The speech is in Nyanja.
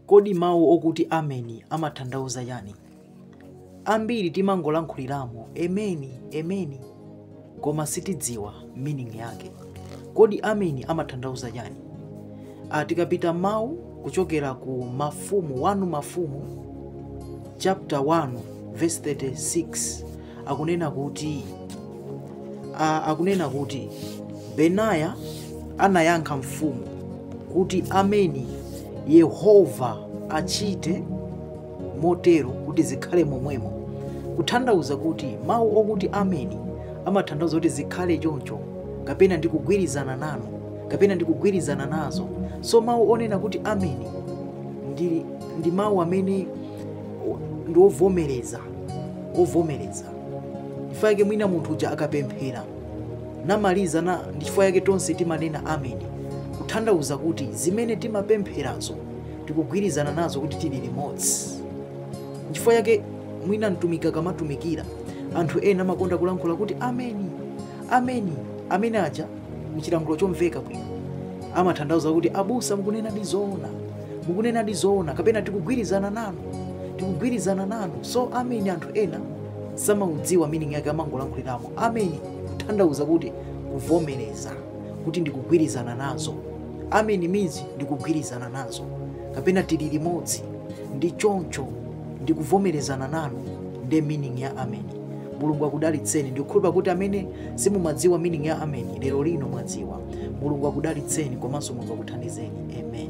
Kodi mawu okuti ameni amathandauza chani? Ambiri timangolankhuliramo ameni ameni koma sitidziwa meaning yake. Kodi ameni amathandauza chani? Ah, tikapita mawu kuchokera ku Mafumu 1 Mafumu chapter 1 verse 36 akunena kuti a, akunena kuti benaya anayankha mfumu kuti ameni yehova achite motero kuti zikhale momwemo kuthandauza kuti mawu okuti ameni amathandauza kuti zikhale choncho kapena ndikugwirizana nanu kapena ndikugwirizana nazo so mawu onena kuti ameni ndi, ndi mawu amene ndi ovomereza ovomereza nchifukwa chake mwina munthu uja akapemphera namaliza na ndi chifukwa chake tonse timanena ameni kuthandauza kuti zimene timapempherazo tikugwirizana nazo kuti tili limodzi nchifukwa chake mwina mtumiki akamatumikira anthu ena amakonda kulankhula kuti ameni ameni ameni aja muchilankhulo chomveka bwino amathandauza kuti abusa mukunena ndi zoona mukunena ndi zoona kapena tikugwirizana nanu tikugwirizana nanu so ameni anthu ena samaudziwa meaning yake amangolankhuliramo ameni kuthandauza kuti kuvomereza kuti ndikugwirizana nazo ameni means ndikugwirizana nazo kapena tili limodzi ndi choncho ndikuvomerezana nanu nde meaning ya ameni mulungu akudalitseni ndikukhulupirira kuti amene simumadziwa meaning ya ameni lero lino mwadziwa mulungu akudalitseni komanso mulungu akuthandizeni amen